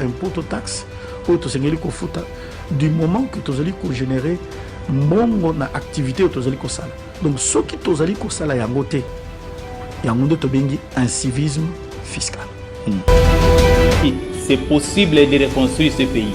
impôt to taxe oyo tosengeli kofuta du moment que tozali kogénere mbongo na activité oyo tozali kosala donc soki tozali kosala yango te yango nde tobengi incivisme fiscal hmm. c'est possible de reconstruire ce pays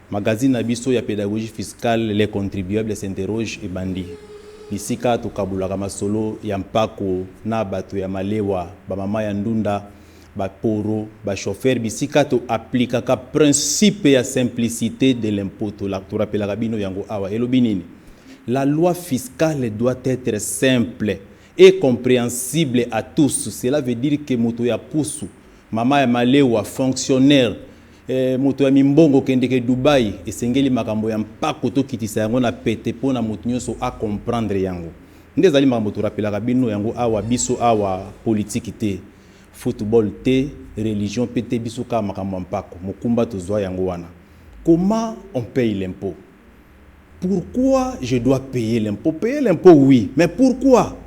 Magazine na biso ya pedagogie fiscale Les contribuables s'interrogent ebandi, bisika tokabolaka masolo ya mpako na bato ya malewa, ba mama ya ndunda, ba poro, ba chauffeurs, bisika to applikaka principe ya simplicite de l'impot. To rapelaka bino yango awa. Elobi nini? La loi fiscale doit etre simple et comprehensible à tous. Cela veut dire que moto ya pusu, mama ya malewa, fonctionnaire, Ee moto ya mimbongo, okendeke Dubaï, esengeli makambo ya mpako tokitisa yango na pete mpo na moto nyonso a comprendre yango. Nde ezali makambo to rappelaka bino yango awa, biso awa politiki te, football te, religion mpe te, biso kaka makambo ya mpako. Mokumba tozwa yango wana. Comment on paye l'impot? Pourquoi je dois payer l'impot? Payer l'impot oui mais pourquoi?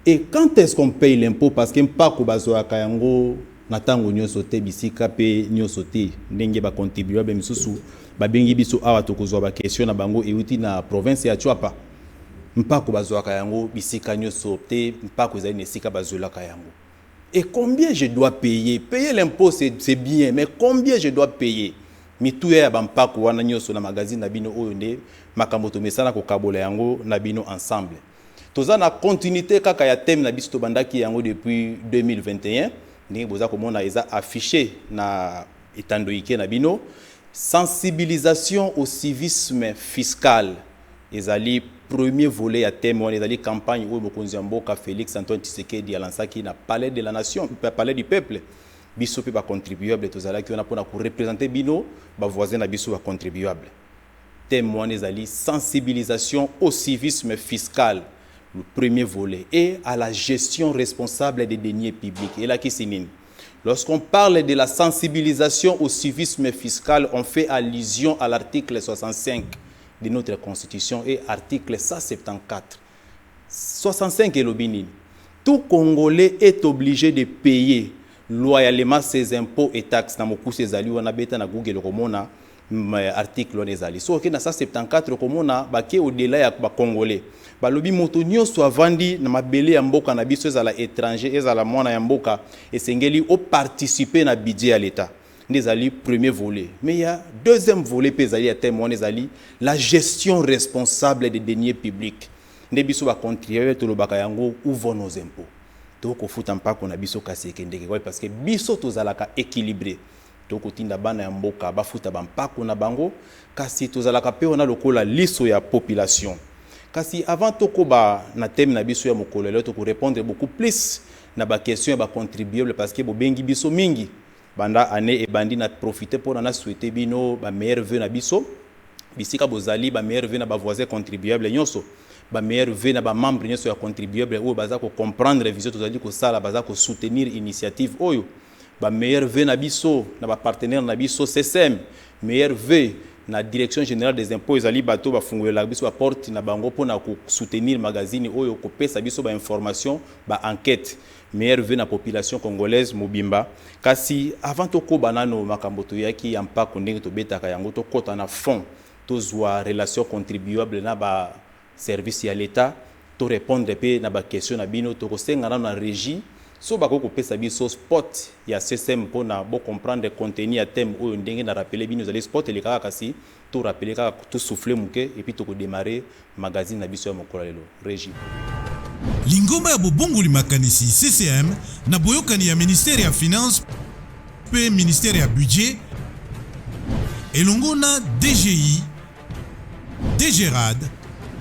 Et quand est-ce qu'on paye l'impot parce que mpako bazuaka yango na tango nioso te bisika pe nioso te ndenge ba contibuables misusu babengi biso awa tokozua ba questions na bango ewuti na province ya Tshuapa mpako bazuaka yango bisika nioso te mpako ezali na esika bazuelaka yango Et combien je dois payer? Payer l'impot c'est bien mais combien je dois payer? Mituya ya ba mpaku wana nioso na magazine na bino oyo nde makambo tomesana kokabola yango na bino ensemble. Toza na continuite kaka ya thème na biso tobandaki yango depuis 2021 ndenge boza komona eza affiche na etandoike na bino, sensibilisation au civisme fiscal. Ezali premier volet ya thème wana ezali campagne oyo mokonzi ya mboka Felix Antoine Tshisekedi a lansaki na palais de la nation, palais du peuple. Biso pe ba contribuables tozalaki wana pona ko representer bino ba voisins na biso ba contribuables. Thème wana ezali sensibilisation au civisme fiscal, le premier volet, et à la gestion responsable des deniers publics. Elakisi nini? Lorsqu'on parle de la sensibilisation au civisme fiscal, on fait allusion à l'article 65 de notre constitution et article 174 65 elobi nini tout congolais est oblige de payer loyalement ses impots et taxes na mokuse ezali wana beta na google okomona article wana ezali soki okei na 174 okomona bake odela ya bacongolais balobi moto nyonso avandi na mabele ya mboka na biso ezala étranger ezala mwana ya mboka esengeli oparticipe na budget ya l'etat nde ezali premier volet mais il ya deuxième volet mpe ezali ya thème wana ezali la gestion responsable des deniers publics nde biso ba contribuable tolobaka yango où vont nos impôts tokofuta mpako na biso kasi ekendeke wapi parce que biso tozalaka équilibré tokotinda bana ya mboka bafuta bampako na bango kasi tozalaka mpe wana lokola liso ya population kasi avant tokoba na teme na biso ya mokolo lelo tokorepondre beaucoup plus na baquestion ya bacontribuable parce que bobengi biso mingi Banda annee ebandi na profiter pona na souhaiter bino ba meilleurs vœux na biso bisika bozali, ba meilleurs vœux na ba voisins contribuables nionso, ba meilleurs vœux na ba membres nionso ya contribuables oyo baza ko comprendre vision tozali kosala, baza ko soutenir initiative oyo, ba meilleurs vœux na biso na ba partenaires na biso SECEM, meilleurs vœux na Direction generale des impots, ezali bato oyo bafungolelaka biso ba portes na bango pona ko soutenir magazine oyo, kopesa biso ba informations, ba enquetes. Meilleurs vœux na population congolaise mobimba kasi avant tokoba nano makambo toyaki ya mpako ndenge tobetaka yango tokota na fond tozwa relation contribuable na ba service ya l'etat to repondre mpe na ba question na bino tokosenga nano na regie soki bakoki kopesa biso spot ya SSEM mpo na bo comprendre contenu ya thème oyo ndenge na rappeler bino ezali spot elekaka kasi To rappeler kaka to souffler muke et puis toko demarrer magazine na biso ya mokolo ya lelo. Regie. Lingomba ya bobongoli makanisi, CCM, na boyokani ya Ministère ya Finances mpe Ministère ya Budget elongo na DGI, DGRAD,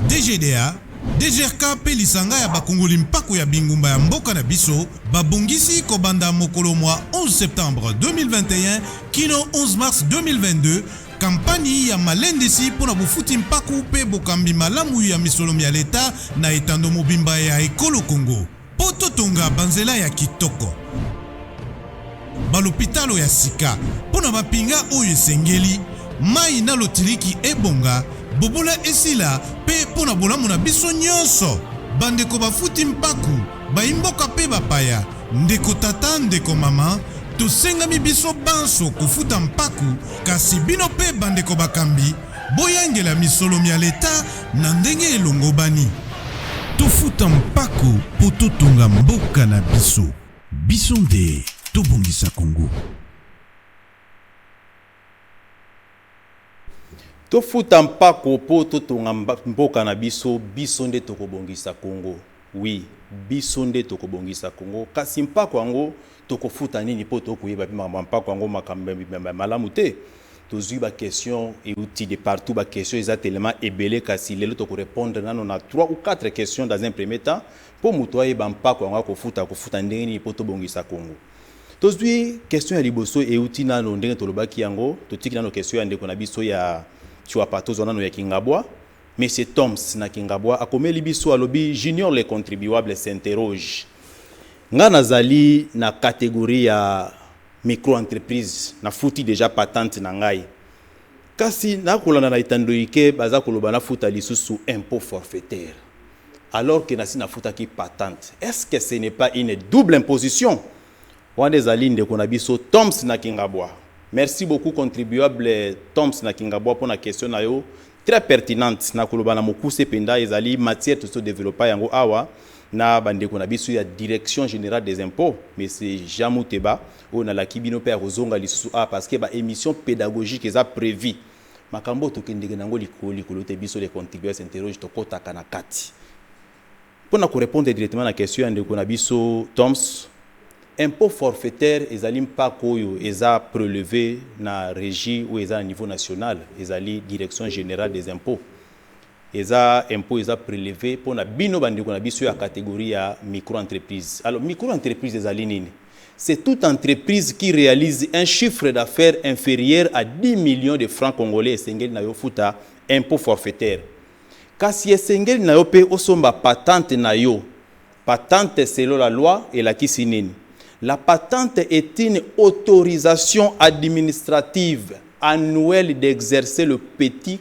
DGDA, DGRK mpe lisanga ya bakongoli mpako ya bingumba ya mboka na biso babongisi kobanda mokolo mwa 11 septembre 2021 kino 11 mars 2022 Kampani ya malendisi mpo na bofuti mpaku mpe bokambi malamu ya misolo mya leta na etando mobimba ya ekolo Congo mpo totonga banzela ya kitoko, balopitalo ya sika mpo na mampinga oyo esengeli, mayi na lotiliki ebonga, bobola esila mpe mpo na bolamu na biso nyonso. Bandeko bafuti mpaku. Baimboka pe bapaya, ndeko tata, ndeko mama, tosengami biso banso kofuta mpaku, kasi bino pe bandeko bakambi, boyangela misolo mya leta na ndenge elongobani. Tofuta mpaku po totonga mboka na biso. Biso nde tobongisa Congo. Tofuta mpako mpo totonga mboka na biso biso nde tokobongisa Congo oui biso nde tokobongisa Congo kasi mpako yango tokofuta nini mpo tokoyeba mpe makambo ya mpako yango makambo ya malamu te tozwi ba question euti de partout ba question eza telema ebele kasi lelo tokorepondre nano na 3 ou 4 question dans un premier temps mpo moto ayeba mpako yango akofuta akofuta ndenge nini mpo tobongisa Congo Tozui question ya liboso euti nano ndenge tolobaki yango, totiki nano question ya ndeko na biso ya Tshuapa, tozwa nano ya Kingabwa. Monsieur Toms na Kingabwa akomeli biso alobi Junior le contribuable s'interroge. Nga nazali na categorie ya micro-entreprise, nafuti dejà patente na ngai. Kasi na kolanda na etando ike baza koloba na futa lisusu impot forfaitaire alors que nasi na futaki patente est ce que ce n'est pas une double imposition? Wana ezali ndeko na biso Toms na Kingabwa. Merci beaucoup contribuable Toms na Kingabwa mpo na question na yo très pertinente na koloba na mokuse mpenza ezali matière tozo developa yango awa na bandeko na biso ya direction générale des impôts monsieur Jean Muteba Oyo na laki bino pe ako zonga lisusu awa parce que ba emissions pedagogiques eza prevu. Makambo oyo to kendeke na yango likolo likolo te biso les contribuers interroges to kotaka na kati. Pona ko repondre directement na question ya ndeko na biso Thoms, impot forfaitaire ezali mpako oyo eza preleve na regie oyo eza na niveau national ezali direction generale des impots. Eza impot eza preleve po na bino ba ndeko na biso ya categorie ya micro entreprise. Alors micro entreprise ezali nini? C'est toute entreprise qui realise un chiffre d'affaires inferieur à 10 millions de francs congolais esengeli na yo ofuta impot forfaitaire. Kasi esengeli na yo pe osomba patente na yo. Patente selon la loi elakisi nini? La patente est une autorisation administrative annuelle d'exercer le petit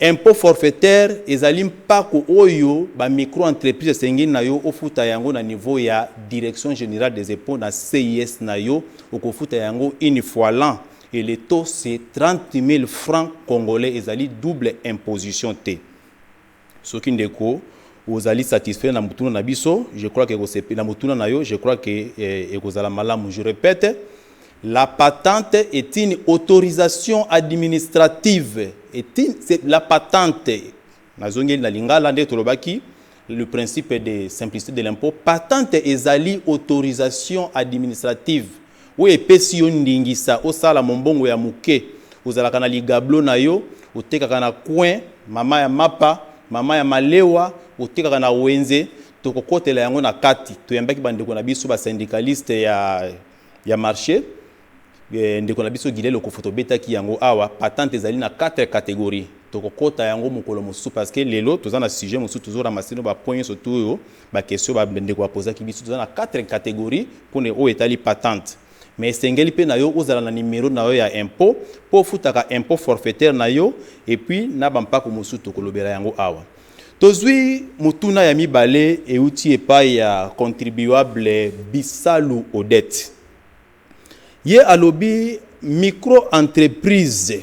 Impot forfaitaire ezali mpako oyo ba micro-entreprises esengeli na yo ofuta yango na niveau ya Direction generale des Impots na CIS na yo, okofuta yango une fois l'an et le taux c'est 30.000 francs congolais, ezali double imposition te. Soki ndeko ozali satisfait na motuna na biso, je crois que ekosepela, na motuna na yo, je crois que ekozala malamu. Je repète, la patente est une autorisation administrative, est une, c'est la patente. Nazongeli na lingala nde tolobaki le principe de simplicité de l'impôt. Patente ezali autorisation administrative. Oyo epesi yo ndingisa osala mombongo ya moke. Ozalaka na ligablo na yo, otekaka na coin, mama ya mapa, mama ya malewa, otekaka na wenze, tokokotela yango na kati. Toyambaki ba ndeko na biso ba syndicalistes ya ya marche. Ndeko na biso Guillet Lokofo tobetaki yango awa. Patente ezali na quatre categories. Tokokota yango mokolo mosusu parce que lelo toza na sujet mosusu tozo ramasser no ba points nionso tout oyo Ba questions ba ndeko ba pozaki biso toza na quatre categories pona oyo etali patente mais esengeli pe nayo ozala na numero nayo ya impot po ofutaka impot forfaitaire nayo et puis na ba mpaku mosusu tokolobela yango awa. Tozui motuna ya mibale ewuti epayi ya contribuable Bisalu Odette. Ye alobi micro entreprise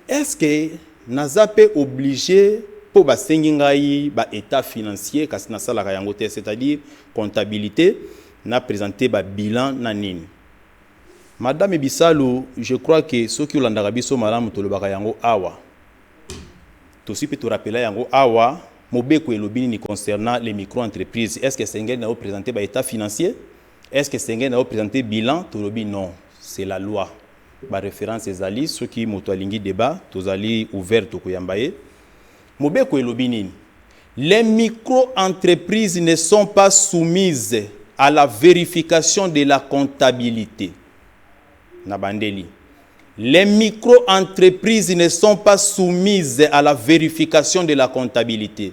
est ce que naza pe oblige po basengi ngai ba etat financier kasi nasalaka yango te c'est à dire comptabilite na presenter ba bilan na nini? Madame Bisalu je crois que soki olandaka biso malamu tolobaka yango awa tosi pe to rappeler yango awa mobeko elobi nini concernant les micro entreprise est ce que esengeli na yo presenter ba etat financier? Est-ce que esengeli na o presenter bilan? Tolobi non, c'est la loi. Ba references ezali, soki moto alingi debat, tozali ouvert, tokoyamba ye. Mobeko elobi nini? Les micro-entreprises ne sont pas soumises à la verification de la comptabilite. Nabandeli. Les micro-entreprises ne sont pas soumises à la verification de la comptabilite.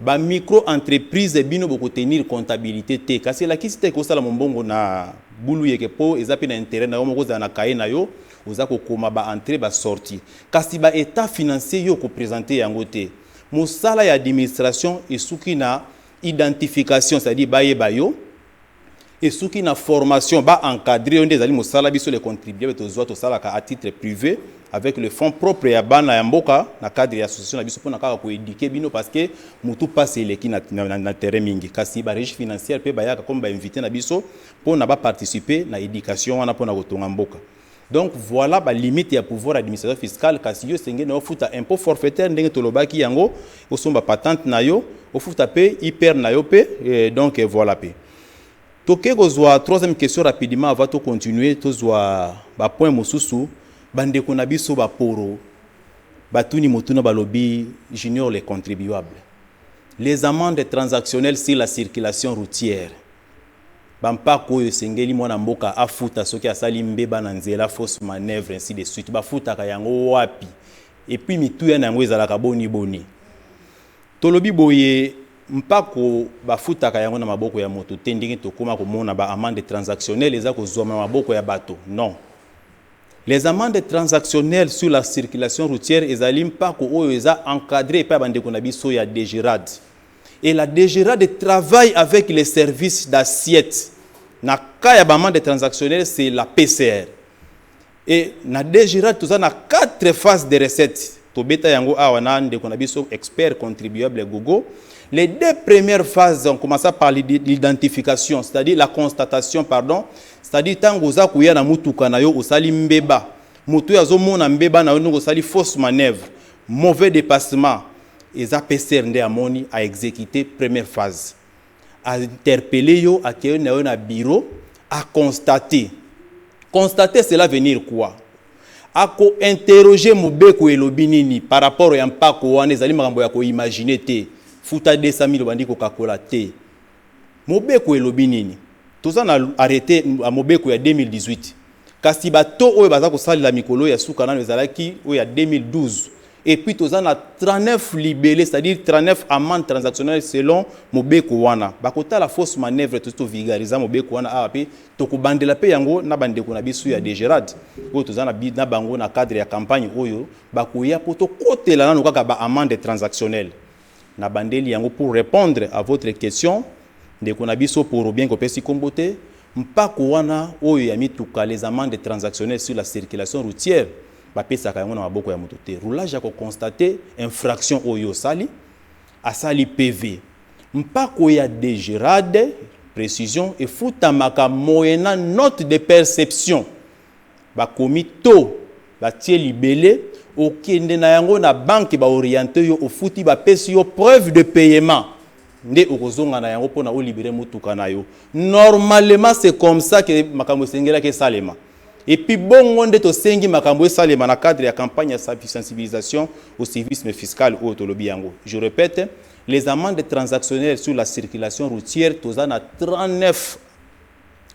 Ba micro entreprise bino boko tenir comptabilite te kasi elakisi te ke osala mombongo na buluyeke po eza pe na interet nayo moko ozala na cahier nayo oza ko koma ba entree ba sortie kasi ba etat financier yo oko presenter yango te mosala ya administration esuki na identification c'est à dire bayeba yo esuki na formation ba encadrer yo nde ezali mosala biso les contribuables tozwa tosalaka à titre privé avec le fonds propre ya bana ya mboka na cadre ya association na biso mpona kaka ko eduquer bino parce que mutu mpasi eleki na, na, na, na terrain mingi kasi ba regie financière mpe bayaka comme ba invité na biso mpona ba participer na education wana mpona kotonga mboka Donc voila ba limite ya pouvoir administration fiscale kasi yo senge na ofuta impôt forfaitaire ndenge tolobaki yango osomba patente na yo ofuta pe IPR na yo pe eh, donc eh, voilà pe toke kozwa troisième question rapidement avant to continuer tozwa ba point mosusu bandeko na biso baporo batuni motuna balobi junior les contribuables les amendes transactionnelles sur la circulation routière Ba mpaku oyo esengeli mwana mboka afuta soki asali mbeba na nzela, fausse manoeuvre ainsi de suite, bafutaka yango wapi? Et puis mituya na yango ezalaka boni boni? Tolobi boye, mpaku bafutaka yango na maboko ya moto te ndenge tokoma komona ba amendes transactionnelles eza kozuama na maboko ya bato? Non. Les amendes transactionnelles sur la circulation routière ezali mpaku oyo eza encadrer epai ya bandeko na biso ya DGRAD. et la DGRADE travaille avec les services d'assiette na cas ya ba amende transactionnelle c'est la PCR et na DGRADE toza na quatre phases de recettes tobeta yango awa na ndeko na biso expert contribuable Gogo les deux premières phases on commença par l'identification c'est-à-dire la constatation pardon c'est-à-dire tango oza koya na mutuka na yo osali mbeba moto oyo azomona mbeba na yo ndenge osali fausse manœuvre mauvais dépassement Eza pester nde amoni a execute première phase a interpelle yo akeyi nayo na bureau a constate constate cela venir quoi ako interroger mobeko elobi nini par rapport ya mpako wana ezali makambo ya ko imaginer te futa 200.000 obandi kokakola te. Mobeko elobi nini? Toza na arrete ya mobeko ya 2018 kasi ba taux oyo baza kosalela mikolo ya suka nanu ezalaki oyo ya 2012 et puis toza na 39 libele c'est à dire 39 amende transactionnelle selon mobeko wana bakotala fausse manœuvre tosi to vulgariser mobeko wana awa pe tokobandela pe yango na ba ndeko na biso ya degerad oyo toza na bi na bango na cadre ya campagne oyo bakoya po tokotela nanu kaka ba amende transactionnelle Na bandeli yango pour repondre à votre question ndeko na biso pour bien ko pesi kombo te, mpako wana oyo ya mituka les amendes transactionnelles sur la circulation routière ba pesaka yango na maboko ya moto te. Roulage ako constater infraction oyo osali, asali PV. Mpako ya degerade, precision, efutamaka moyennant note de perception. Bakomi to batie libele okende na yango na banque ba oriente yo ofuti bapesi yo preuve de payement nde okozonga na yango pona o libere mutuka na yo normalement c'est comme ça que makambo esengelaki esalema et puis bongo nde tosengi makambo esalema na cadre ya campagne ya sensibilisation au civisme fiscal oyo tolobi yango je repète les amendes transactionnelles sur la circulation routière toza na 39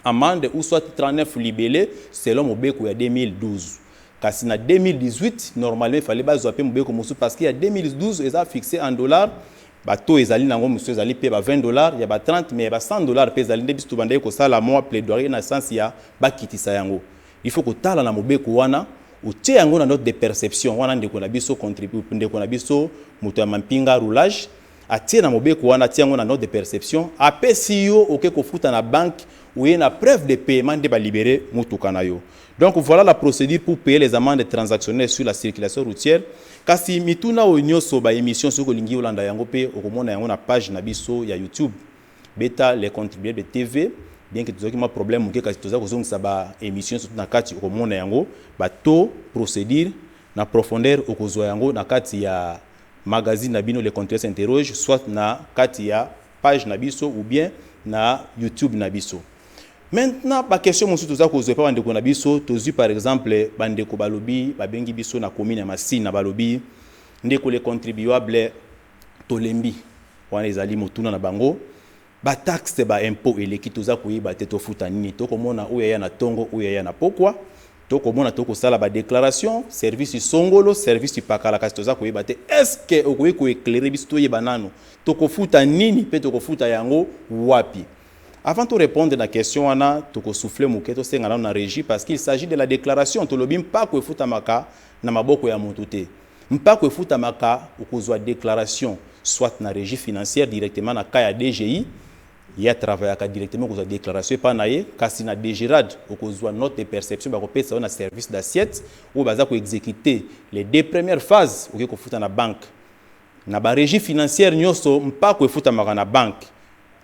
amende ou soit 39 libele selon mobeko ya 2012 kasi na 2018 normalement il fallait bazua pe mobeko mosusu parce que ya 2012 eza fixe en dollars ba taux ezali na yango mosusu ezali pe ba 20 dollars ya ba 30 mais ya ba 100 dollars pe ezali nde biso tobandaki kosala mwa plaidoyer na sens ya bakitisa yango il faut kotala na mobeko wana otie yango na note de perception wana ndeko na biso contribue ndeko na biso moto ya mampinga roulage Atie na mobeko wana, atie yango na note de perception, apesi yo oke kofuta na banque, oye na preuve de paiement nde ba liberer mutuka na yo. Donc voilà la procedure pour payer les amendes transactionnelles sur la circulation routière. Kasi mituna oyo nioso, ba emissions soki olingi olanda yango pe okomona yango na page na biso ya YouTube. Beta le contribuable TV, bien que tozalaki mwa problème moke kasi toza kozongisa ba emissions surtout na kati okomona yango ba taux, procedure na profondeur okozua yango na kati ya magazine na bino le comptoir s'interroge soit na kati ya page na biso ou bien na youtube na biso. Maintenant ba questions mosusu toza kozwa epa ba ndeko na biso tozwi par exemple ba ndeko balobi babengi biso na commune ya Masina balobi ndeko le contribuable tolembi wana ezali motuna na bango Ba taxes ba impots eleki toza koyeba te tofuta nini toko mona oyo aya na tongo oyo aya na pokwa toko mona toko sala ba declaration service songolo service pakala kasi toza koyeba te est ce que okoki ko eclairer biso toyeba nanu toko futa nini pe toko futa yango wapi avant to repondre na question wana toko souffler muke to senga nanu na regie parce qu'il s'agit de la declaration tolobi mpako efutamaka na maboko ya mutu te. Mpako efutamaka okozua declaration soit na regie financière directement na cas ya DGI ye a travaillaka directement okozua declaration epa na ye kasi na DGRAD okozua note de perception bakopesa yo na service d'assiette oyo baza ko executer les deux premières phases oke kofuta na banque na ba regie financière nioso mpako efutamaka na banque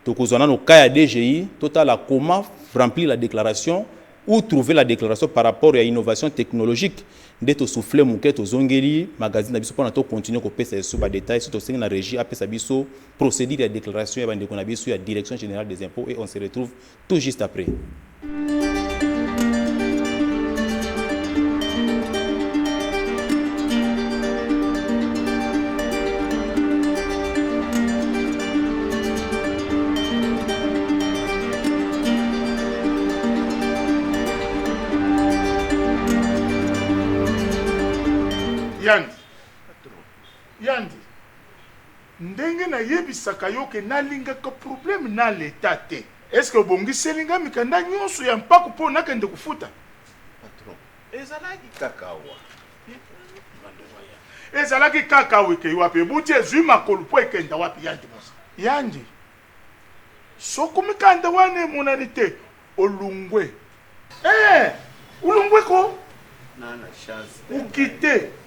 tokozua nano cas ya DGI totala comment remplir la declaration Où trouver la declaration par rapport ya innovation technologique? Nde to souffler muke tozongeli magazine na biso pona to continuer kopesa lisusu ba details soki tosengi na regie apesa biso procedure ya declaration ya ba ndeko na biso ya Direction generale des impots et on se retrouve tout juste après. yandi yandi ndenge nayebisaka yo ke nalingaka probleme na leta te eske obongiseli nga mikanda nyonso ya mpako mpo nakende kofuta Ezalaki kaka awa. Ezalaki kaka awa ekei wapi? Ebuti ezui makolo mpo ekenda wapi, Yandi Mosa? Yandi, soko mikanda wana emonani te, olungwe. Ee, olungwe ko. Nana chance. Okite.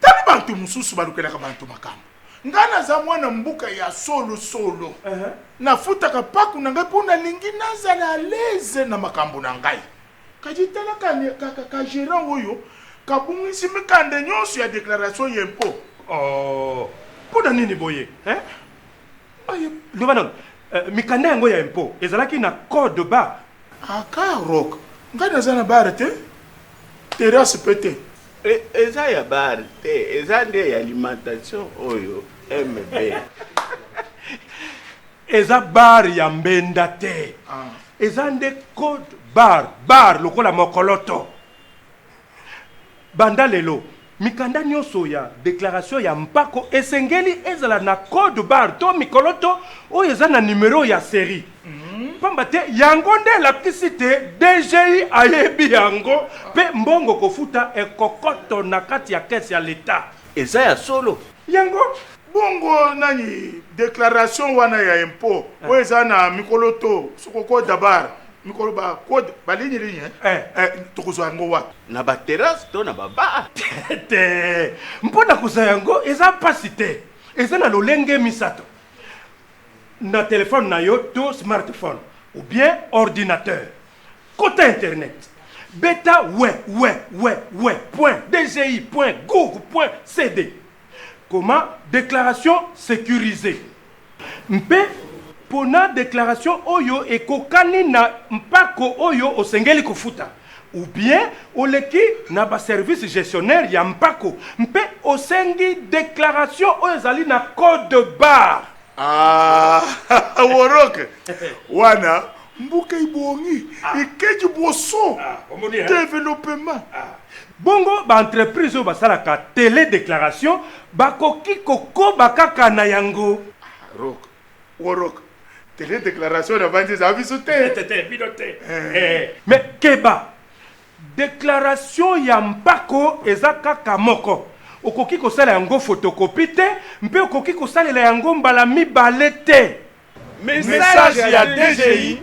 Tala bantu mususu balukelaka bantu makambo ngai naza mwana mbuka ya solo solo nafutaka paku na ngai po nalingi nazala alaise na makambo na ngai kadi tala ka gerant oyo kabungisi mikanda nionso ya declaration ya impo oh po na nini boye hein oye loba nanu euh, mikanda yango ya impo ezalaki na code bar aka ah, rock ngai naza na bar te terrasse pe te E, eza ya bar te, eza nde ya alimentation oyo MB. eza bar ya mbenda te. Ah. Eza nde code bar, bar lokola mokoloto. Banda lelo mikanda nyonso ya deklaratio ya mpako esengeli ezala na code bar to mikoloto oyo eza na nimero ya serie. Pamba te yango nde elakisi te DGI ayebi yango mpe mbongo kofuta ekokoto na kati ya caisse ya l'Etat. Eza ya solo? Yango. Bongo nani declaration wana ya impot oyo eza na mikolo to soko code da barre mikolo ba code ba ligne ligne hein eh tokozwa yango wapi? Na ba terrasse to na ba bar? Te mpo na kozwa yango eza pasi te eza na lolenge misato na telephone na yo to smartphone ou bien ordinateur kota internet beta www.dgi.gouv.cd koma declaration securisee mpe pona declaration oyo ekokani na mpako oyo osengeli kofuta. Ou bien oleki na ba services gestionnaires ya mpako mpe osengi declaration oyo ezali na code barre. Aah worok wana mboka ebongi ekeji boso developement. Bongo ba entreprises oyo basalaka tele declaration bakoki kokoba kaka na yango? Rock Worok. Tele declaration na banzi za biso te. Te te bino te. Eh. eh. Mais keba. Declaration ya mpako eza kaka moko. Okoki kosala yango photocopie te mpe okoki kosalela yango mbala mibale te. Message ya DGI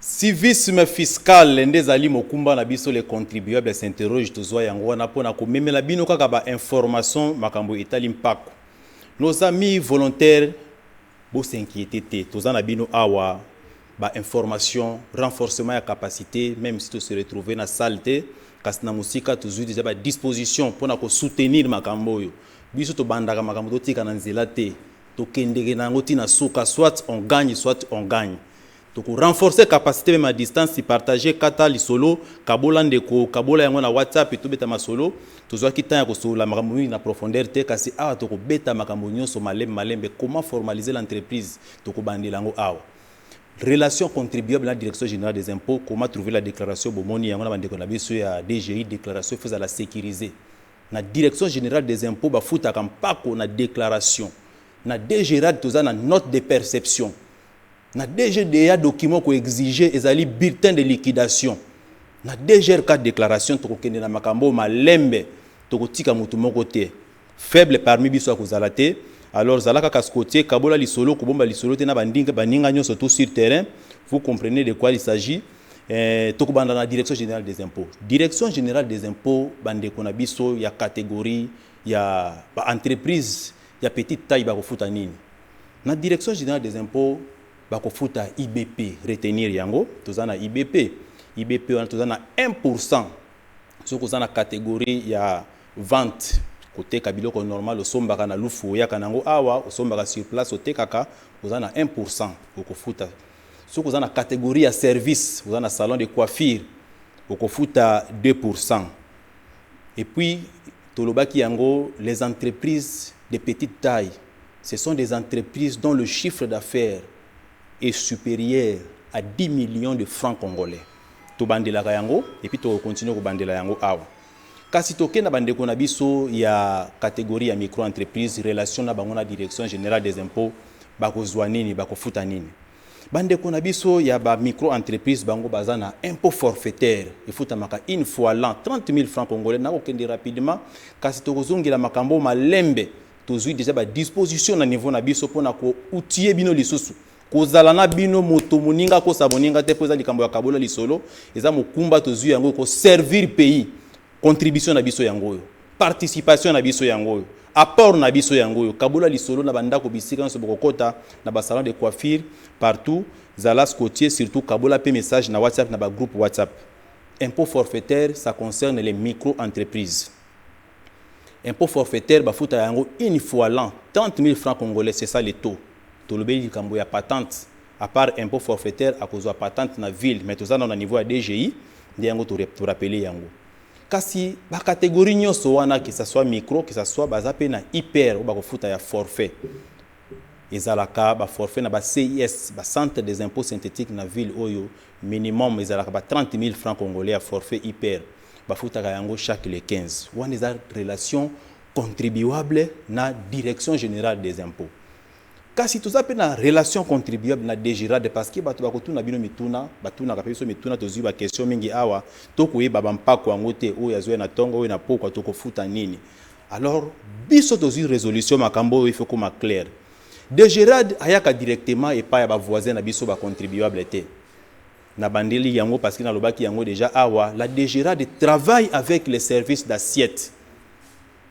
Civisme fiscal nde ezali mokumba na biso les contribuables s'interrogent tozua yango wana mpo na komemela bino kaka ba informations makambo etali mpako. Nos amis volontaires bo s'inquieter te toza na bino awa ba informations renforcement ya capacite meme si to se retrouver na salle te kasi na mosika tozui dejà ba dispositions mpo na ko soutenir makambo oyo biso tobandaka makambo totika na nzela te tokendeke na yango ti na suka soit on gagne soit on gagne Toko renforcer capacite meme à distance si partager kata lisolo kabola ndeko kabola yango na WhatsApp to beta masolo tozuaki temps ya kosolola makambo mingi na profondeur te kasi awa toko beta makambo nionso malembe malembe comment formaliser l'entreprise toko bandela yango awa relation contribuable na direction generale des impots comment trouver la declaration bomoni yango na ba ndeko na biso ya DGI declaration faut ezala securiser na direction generale des impots ba futaka mpako na declaration na DGRAD toza na note de perception Na DGDA document ko exiger ezali bulletin de liquidation. Na DGRK declaration tokokende na makambo oyo malembe, tokotika mutu moko te. Faible parmi biso akozala te. Alors zala kaka scotier, kabola lisolo, kobomba lisolo te na bandinga, baninga nionso tout sur terrain. Vous comprenez de quoi il s'agit. Eh, tokobanda na Direction generale des impots. Direction generale des impots, bandeko na biso ya categorie ya ba entreprises ya petite taille bakofuta nini? Na direction generale des impots bakofuta IBP retenir yango toza na IBP IBP wana toza na 1 pourcent soki oza na categorie ya vente koteka biloko normal osombaka na lufu oyaka na yango awa osombaka sur place otekaka oza na 1 pourcent okofuta soki oza na categorie ya service oza na salon de coiffure okofuta 2 pourcent et puis tolobaki yango les entreprises de petite taille Ce sont des entreprises dont le chiffre d'affaires est superieur à 10 millions de francs congolais. Tobandelaka yango et puis toko continuer kobandela yango awa. Kasi toke na bandeko na biso ya categorie ya micro-entreprise, relation na bango na Direction generale des impots, bakozua nini, bakofuta nini? Bandeko na biso ya ba micro-entreprise bango baza na impot forfaitaire efutamaka une fois l'an 30.000 francs congolais, nakokende rapidement kasi tokozongela makambo oyo malembe Tozui dejà ba dispositions na niveau na biso pona ko outiller bino lisusu kozala na bino moto moninga akosa moninga te mpo eza likambo ya kabola lisolo eza mokumba tozwi yango ko servir pays contribution na biso yango oyo participation na biso yango oyo apport na biso yango oyo kabola lisolo na bandako bisika nyonso bokokota na basalon de coiffure partout zala scotier surtout kabola mpe message na whatsapp na bagroupe whatsapp impôt forfaitaire ça concerne les micro entreprises Impot forfaitaire bafutaka yango une fois l'an 30.000 francs congolais c'est ça le taux. Tolobeli likambo ya patente à part impot forfaitaire akozua patente na ville mais toza nanu na niveau ya DGI nde yango to rappeler yango. Kasi ba categories nionso wana que ça soit micro que ça soit baza pe na IPR oyo bakofuta ya forfait. Ezalaka ba forfaits na ba CIS ba centres des impots synthetiques na ville oyo minimum ezalaka ba 30.000 francs congolais ya forfait IPR. Bafutaka yango chaque le 15. Wana eza relation contribuable na Direction Generale des Impots. Kasi toza pe na relation contribuable na DGRAD parce que bato bakotuna bino mituna, batunaka pe biso mituna, tozui ba questions mingi awa, tokoyeba ba mpako yango te, oyo azui na tongo, oyo na pokwa, tokofuta nini? Alors biso tozui resolution makambo oyo il faut ekoma claire. DGRAD ayaka directement epai ya ba voisins na biso ba contribuables te. Na bandeli yango parce que na lobaki yango dejà awa, la DGRADD travaille avec les services d'assiette.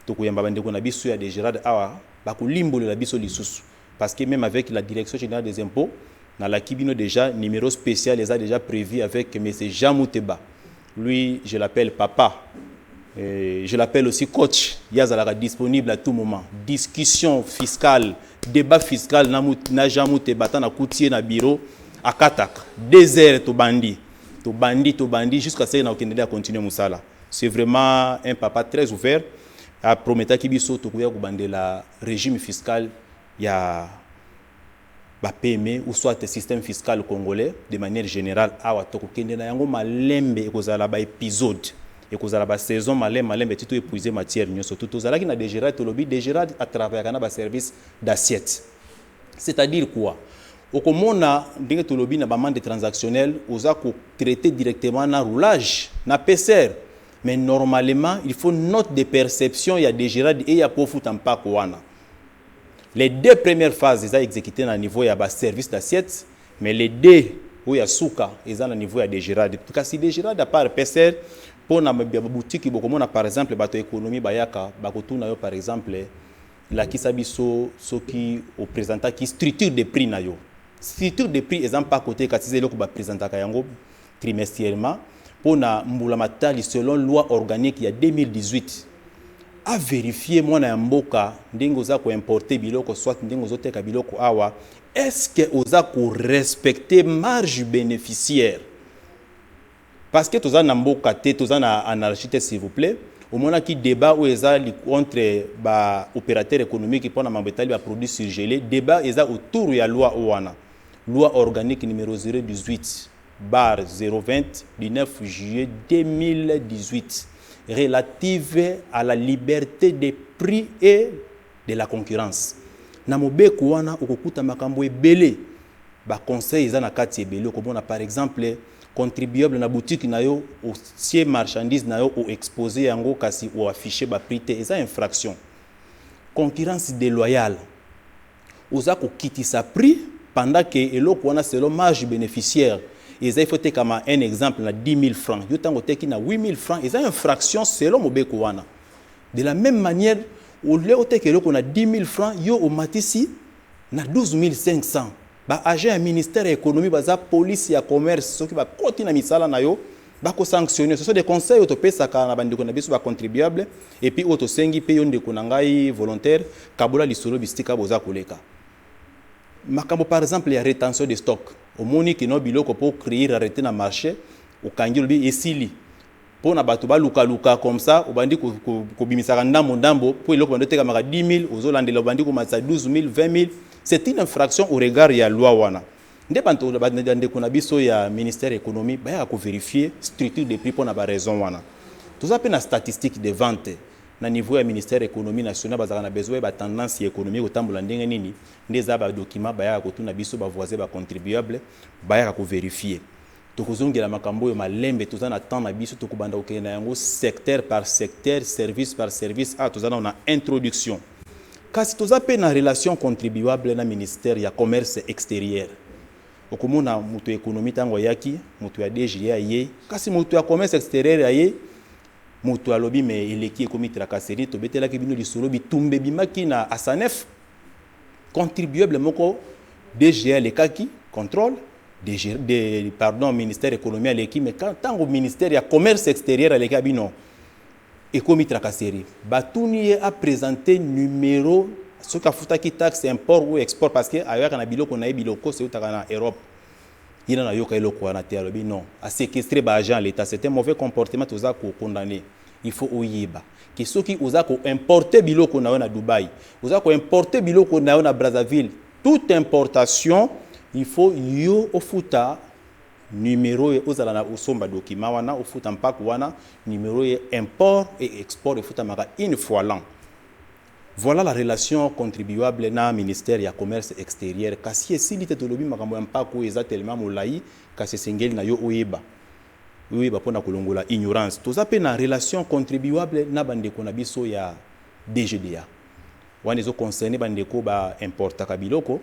Toko yamba ba ndeko na biso ya DGRADD awa ba ko limbolela biso lisusu parce que meme avec la Direction generale des impots na laki bino dejà numero special eza dejà prevu avec Monsieur Jean Muteba Lui je l'appelle papa et je l'appelle aussi coach ye azalaka disponible à tout moment discussion fiscal debat fiscal na mut na Jean muteba ata na kuti ye na bureau akataka deux heures tobandi tobandi tobandi jusqu'à ce que na kokende nde a continuer musala c'est vraiment un papa très ouvert a prometaki biso tokoya kobandela regime fiscal ya ba pme ou soit système fiscal congolais de manière generale awa toko kende na yango malembe ekozala ba episode ekozala ba saison malembe malembe ti to epuise matière nioso tout tozalaki na degerade tolobi degerade a travaillaka na ba service d'assiette c'est à dire quoi okomona ndenge tolobi na ba mande transactionnel oza ko traite directement na roulage na pcr mais normalement il faut note de perception ya degerade eya po ofuta mpako wana Les deux premières phases eza execute na niveau ya ba service d'assiette mais les deux oyo ya suka eza na niveau ya Degerad. Kasi Degerad à part PSR mpo na ba boutique bokomona par exemple bato ya economie bayaka bakotuna yo par exemple lakisa biso soki o presentaki structure de prix na yo. Structure de prix eza mpako te kasi eza eloko ba presentaka yango trimestiellement mpo na mbula matali selon loi organique ya 2018 a verifier mwana ya mboka ndenge oza ko importer biloko soit ndenge ozo teka biloko awa est ce que oza ko respecter marge beneficiaire parce que toza na mboka te toza na anarchie te s'il vous plaît omonaki débat oyo eza entre ba opérateur économique mpo na mambo etali ba produit surgelé débat eza autour ya loi oyo wana loi organique numero 018 bar 020 du 9 juillet 2018 relative à la liberte des prix et de la concurrence. Na mobeko wana okokuta makambo ebele, ba conseils eza na kati ebele, okomona par exemple contribuable na boutique na yo otie marchandise na yo o exposer yango kasi o afficher ba prix te, eza infraction. Concurrence deloyale. Oza ko kitisa prix pendant que eloko wana selon marge beneficiaire eza il faut etekama un exemple na 10.000 francs yo tango oteki na 8.000 francs eza infraction selon mobeko wana. De la meme manière au lieu oteka eloko na 10.000 francs yo omatisi na 12.500 ba agents ya ministère ya economie baza police ya commerce soki bakoti na misala na yo bako sanctionner ce sont des conseils oyo topesaka na bandeko na biso ba contribuable et puis oyo tosengi mpe yo ndeko na ngai volontaire kabola lisolo bisika boza koleka makambo par exemple ya retention de stock omoni kino biloko mpo créer arrete na marché okangi olobi esili mpo na bato balukaluka comme ça obandi kobimisaka ndambo ndambo mpo eloko bandi otekamaka 10 000 ozolandela obandi komatisa 12 000 20 000 c'est une infraction au regard ya loi wana nde banto ba ndeko na biso ya ministère ya economie bayaka ko verifier structure de prix mpo na ba raisons wana toza mpe na statistiques de vente na niveau ya ministère ya economie nationale bazalaka na besoin bayeba tendance ya economie ekotambola ndenge nini nde eza ba documents bayaka kotuna biso ba voisins ba contribuables bayaka ko verifier Toko zongela makambo oyo malembe toza na temps na biso toko banda kokende na yango secteur par secteur service par service awa toza nanu na introduction kasi toza pe na relation contribuable na ministère ya commerce exterieur okomona mutu ya economie tango ayaki mutu ya DGE ayei kasi mutu ya commerce exterieur aye mutu alobi mais eleki ekomi tracasserie tobetelaki bino lisolo bitumba ebimaki na Asanef Contribuable moko DGE alekaki, controle, DG, de, pardon, ministère economie aleki, mais tango ministère ya commerce exterieur aleki abi non. Ekomi tracasserie. Batuni ye a presenter numero soki afutaki taxe import ou export parce que ayaka na biloko na ye biloko se utaka na Europe. Ye na nayoka eloko wana te alobi non. A séquestrer ba agents l'État, c'est un mauvais comportement toza ko condamner. Il faut oyeba que soki oza ko importer biloko na yo na Dubaï, oza ko importer biloko na yo na Brazzaville, toute importation il faut yo ofuta numero ye ozala na osomba document wana ofuta mpaku wana numero ye import et export efutamaka une fois l'an. Voilà la relation contribuable na ministère ya commerce exterieur kasi esili te tolobi makambo ya mpaku oyo eza tellement molayi kasi esengeli na yo oyeba. Oyeba mpo na kolongola ignorance toza mpe na relation contribuable na ba ndeko na biso ya DGDA. Wana ezo concerner ba ndeko ba importaka biloko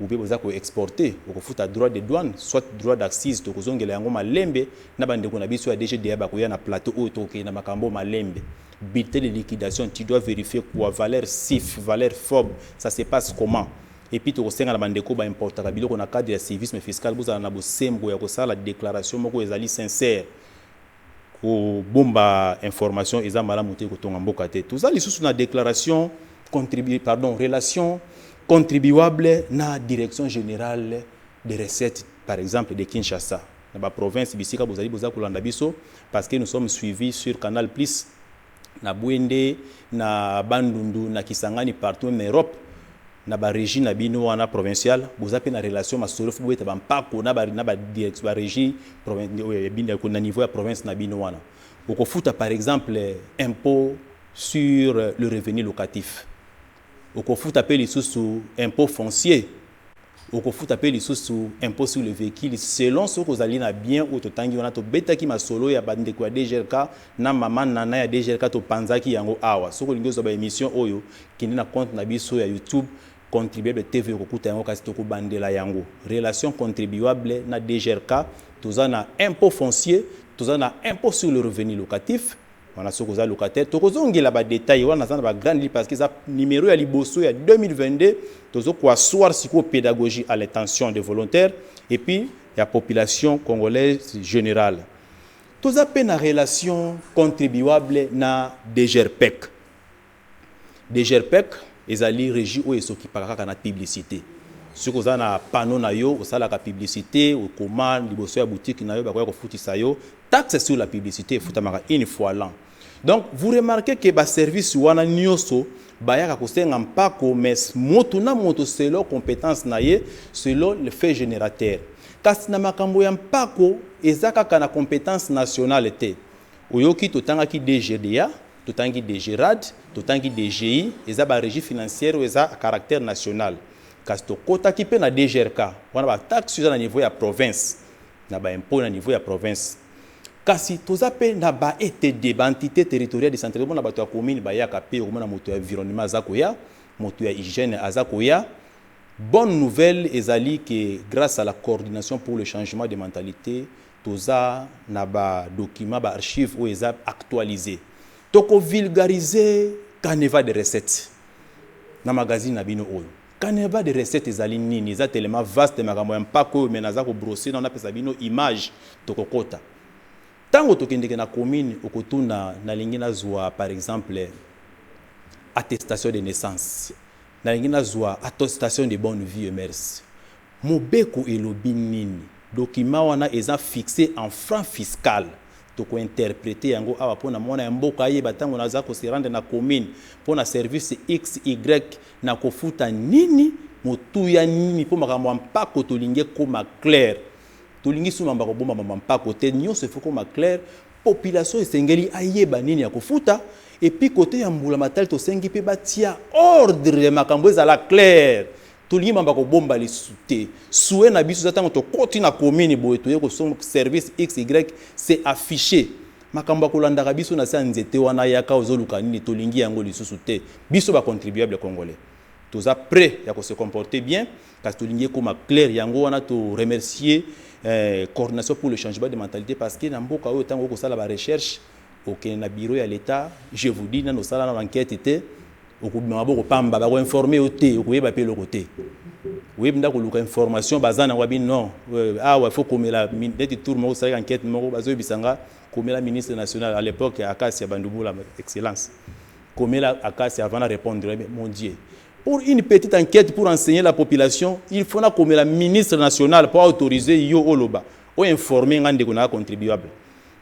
ou bien boza ko exporter okofuta droit de douane soit droit d'accise tokozongela yango malembe na ba ndeko na biso ya DGDA bakoya na plateau oyo tokokende na makambo oyo malembe. Bulletin de liquidation tu dois verifier quoi valeur sif valeur fob ça se passe comment? Et puis tokosenga na ba ndeko ba importaka biloko na cadre ya civisme fiscal bozala na bosembo ya kosala declaration moko oyo ezali sincère. Kobomba information eza malamu te, ekotonga mboka te. Toza lisusu na declaration contribu, pardon, relation contribuable na Direction generale des recettes par exemple de Kinshasa na ba provinces bisika bozali boza kolanda biso parce que nous sommes suivis sur Canal Plus na Bwende, na Bandundu, na Kisangani partout meme na Europe na ba regies na bino wana provinciales boza mpe na relation masolo il faut bobeta ba mpako na ba na ba direct ba regies provin oyo ya bino na niveau ya province na bino wana bokofuta par exemple impot sur le revenu locatif okofuta pe lisusu impot foncier, okofuta pe lisusu impot sur le vehicule selon soki ozali na bien oyo totangi wana tobetaki masolo ya ba ndeko ya DGRK na maman Nana ya DGRK topanzaki yango awa soki olingi ozua ba emission oyo kende na compte na biso ya YouTube contribuable TV okokuta yango kasi tokobandela yango relation contribuable na DGRK toza na impot foncier toza na impot sur le revenu locatif Wana soki oza locataire tokozongela ba details wana naza na ba grand lit parce que eza numero ya liboso ya 2022 tozo ko asseoir sikoyo pedagogie à l'intention des volontaires et puis ya population congolaise generale toza pe na relation contribuable na DGRPEC Degerpec ezali regie oyo esokipaka kaka na publicite. Soki oza na panneau na yo, osalaka publicite, okoma liboso ya boutique na yo, bakoya kofutisa yo. Taxe sur la publicite efutamaka une fois l'an. Donc, vous remarquez que ba services wana nioso bayaka kosenga mpako, mais moto na moto selon competence na ye, selon le fait generateur. Kasi na makambo ya mpako, eza kaka na competence nationale te. Oyoki totangaki DGDA, Totangi DGRAD, totangi DGI, eza ba regies financières oyo eza à caractère national. Kasi tokotaki mpe na DGRK, wana ba taxes oyo eza na niveau ya province, na ba impots na niveau ya province. Kasi toza mpe na ba ETD, ba entites territoriales decentralisées, okomona bato ya commune bayaka mpe, okomona moto ya environnement aza koya, moto ya hygiène aza koya. Bonne nouvelle ezali que, grace à la coordination pour le changement de mentalites, Toza na ba documents, ba archives oyo eza actualises. Toko vulgariser canevas de recettes na magazine na bino oyo. Canevas de recettes ezali nini? Eza tellement vaste makambo ya mpako oyo mais naza ko brosser nanu napesa bino image. Toko kota. Tango tokendeke na commune okotuna nalingi nazua par exemple attestation de naissance. Nalingi nazua attostation de bonne vie et mercy. Mobeko elobi nini? Document wana eza fixe en franc fiscal. Toko interpreter yango awa pona muana ya mboka ayeba tango naza ko se rendre na commune pona service XY nako futa nini, motuya nini po makambo ya mpako tolingi ekoma claire. Tolingi sous mambo ya kobomba mambo ya mpako te, nionso il faut ekoma claire Population esengeli ayeba nini akofuta et puis cote ya mbula matali tosengi pe batia ordre makambo ezala clair tolingi makambo ya kobomba lisusu te souhait na biso eza tango tokoti na commune boye toye kosomb service xy c'est affiche makambo ya kolandaka biso na se ya nzete wana yaka ozoluka nini tolingi yango lisusu te biso ba contribuable congolais toza pret ya ko se comporter bien Kasi tolingi ekoma claire yango wana to remercier eh, coordination pour le changement de mentalité parce que na mboka oyo ntango okosala ba recherche okende na bureau ya l'etat je vous dis nano osala nano enquête te okobima maboko pamba bakoinforme yo te okoyeba mpe eloko te oyebi nda koluka information baza nango abi non euh, awa faut komela neti tour moko osalaki enquête moko bazoyebisa nga komela ministre national à l'époque ya akasi ya bandubula excellence komela akasi avant na répondre mon dieu Pour une petite enquete pour enseigner la population, il faut na komela ministre national pour autoriser yo oloba, o informer nga ndeko na contribuable.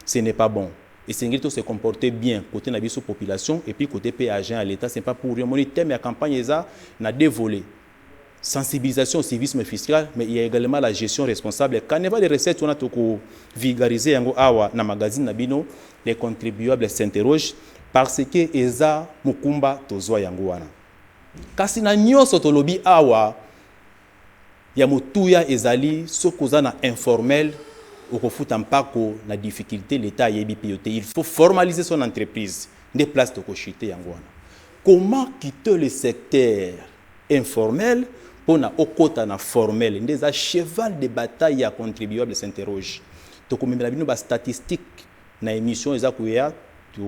Ce n'est pas bon. Esengeli to se comporter bien cote na biso population et puis cote pe agent ya l'etat, ce n'est pas pour rien omoni thème ya campagne eza na deux volets. Sensibilisation au civisme fiscal mais il ya egalement la gestion responsable. Canevas de recettes wana toko vulgariser yango awa na magazine na bino Les contribuables s'interrogent parce que eza mokumba tozua yango wana. Kasi na nionso tolobi awa, ya motuya ezali soki oza na informel okofuta mpako na difficulte l'etat ayebi mpe yo te il faut formaliser son entreprise nde place toko chuter yango wana. Comment quitter le secteur? informel pona okota na formel nde eza cheval de bataille ya contribuable s'interroge tokomemela bino ba statistique na emission eza koya to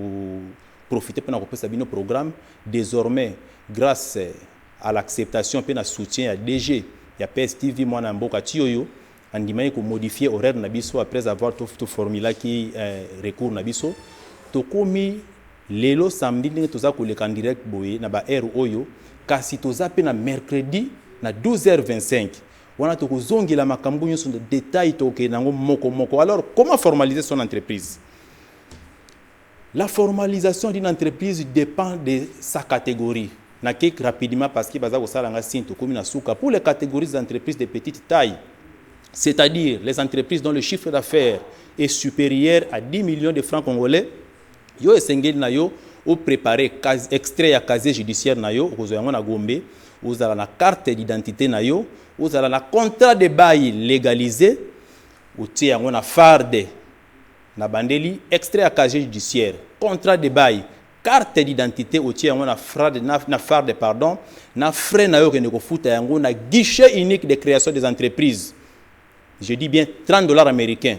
profite pona kopesa bino programme desormais grace a l'acceptation pe na soutien ya DG ya PSTV muana ya mboka Tshiyoyo andimaki ko modifier horaire na biso après avoir to formulaki recours na biso tokomi Lelo samedi ndenge toza koleka en direct boye na ba heures oyo, kasi toza pe na mercredi na 12h25, wana toko zongela makambu nionso na detail, toko kende nango moko moko. Alors comment formaliser son entreprise? La formalisation d'une entreprise depend de sa categorie. Na kek rapidement parce que baza kosala nga signe tokomi na suka. Pour les categories des entreprises de petite taille, c'est-à-dire les entreprises dont le chiffre d'affaires est superieur à 10 millions de francs congolais, Yo esengeli na yo o preparer extrait ya casier judiciaire na yo, okozwa yango na Gombe, ozala na carte d'identite na yo, ozala na contrat de bail legalise, otie yango na farde. Na bandeli extrait ya casier judiciaire, contrat de bail, carte d'identite otie yango na frade na, na farde pardon, na frais na yo okende kofuta yango na guichet unique de creation des entreprises. Je dis bien 30 dollars americains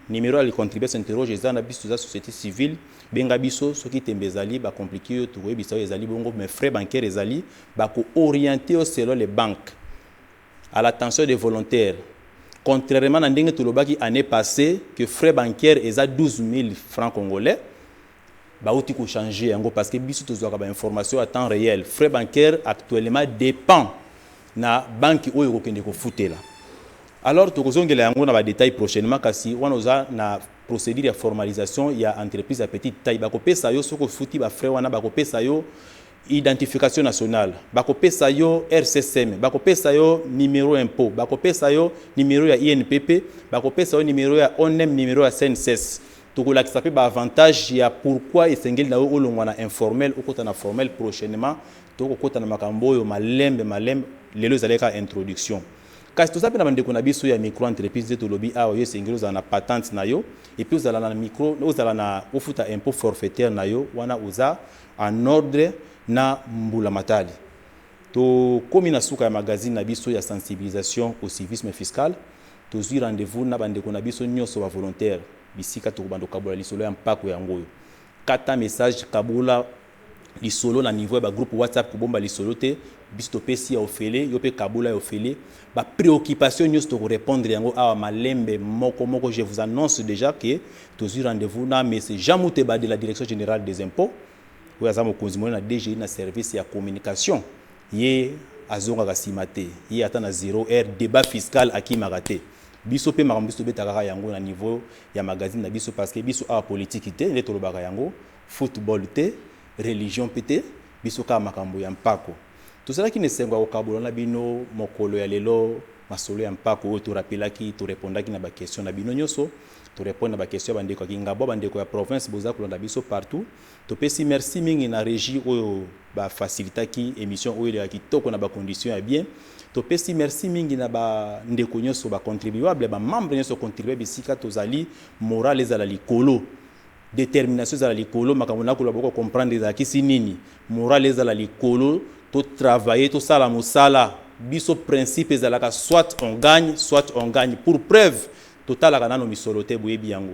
numero ya le contribuable s'interroge eza na biso toza societe civile benga biso soki tembe ezali ba complique yo tokoyebisa yo ezali bongo mais frais bancaire ezali bako orienter yo selon le banque à l'attention de volontaire contrairement na ndenge tolobaki annee passee que frais bancaire eza 12000 francs congolais Bawuti ko changer yango parce que biso tozwaka ba informations à temps reel. Frais bancaires actuellement depend na banki oyo okokende kofutela. Alors tokozongela yango na ba details prochainement kasi wana oza na procedure ya formalisation ya entreprise ya petite taille. Bakopesa yo soki ofuti ba frais wana bakopesa yo identification nationale, bakopesa yo RCSM, bakopesa yo numero impot, bakopesa yo numero ya INPP, bakopesa yo numero ya ONEM, numero ya CNSS. Tokolakisa pe ba avantages ya pourquoi esengeli na yo olongwa na informel okota na formel prochainement. Tokokota na makambo oyo malembe malembe, lelo ezali kaka introduction. Kasi toza pe na ba ndeko na biso ya micro entreprise nde tolobi awa yo esengeli ozala na patente na yo et puis ozala na micro ozala na ofuta impot forfaitaire na yo wana oza en ordre na mbula matali. Tokomi na suka ya magazine na biso ya sensibilisation au civisme fiscal. Tozwi rendez-vous na bandeko na biso nyonso bavolontaires bisika tokobanda kokabola lisolo ya mpako yango oyo. Kata message, kabola lisolo na niveau ya ba groupes WhatsApp, kobomba lisolo te, biso topesi ya ofele, yo mpe kabola ya ofele. Ba preoccupations nyonso toko repondre yango awa malembe moko moko. Je vous annonce dejà que tozwi rendez-vous na Monsieur Jean Muteba de la Direction Generale des Impots, oyo aza mokonzi monene na DGI na service ya communication. Ye azongaka sima te ye ata na zero heure debat fiscal akimaka te biso pe makambo biso tobeta kaka yango na niveau ya magazine na biso parce que biso awa politique te nde tolobaka yango foot ball te religion pe te biso kaka makambo ya mpako tozalaki na esengo ya kokabola na bino mokolo ya lelo masolo ya mpako oyo to rapelaki to repondaki na ba question na bino nioso to repondre na ba question ya ba ndeko ya kingabwa ba ndeko ya province boza kolanda biso partout Topesi merci mingi na regie oyo ba facilitaki emission oyo eleka kitoko na ba conditions ya bien. Topesi merci mingi na ba ndeko nionso ba contribuables, ba membres nionso contribuables esika tozali morale ezala likolo, determination ezala likolo, makambo na koloba boko comprendre ezalakisi nini, morale ezala likolo, to travailler, tosala mosala, biso principe ezalaka soit on gagne, soit on gagne, pour preuve totalaka nanu misolo te boyebi yango.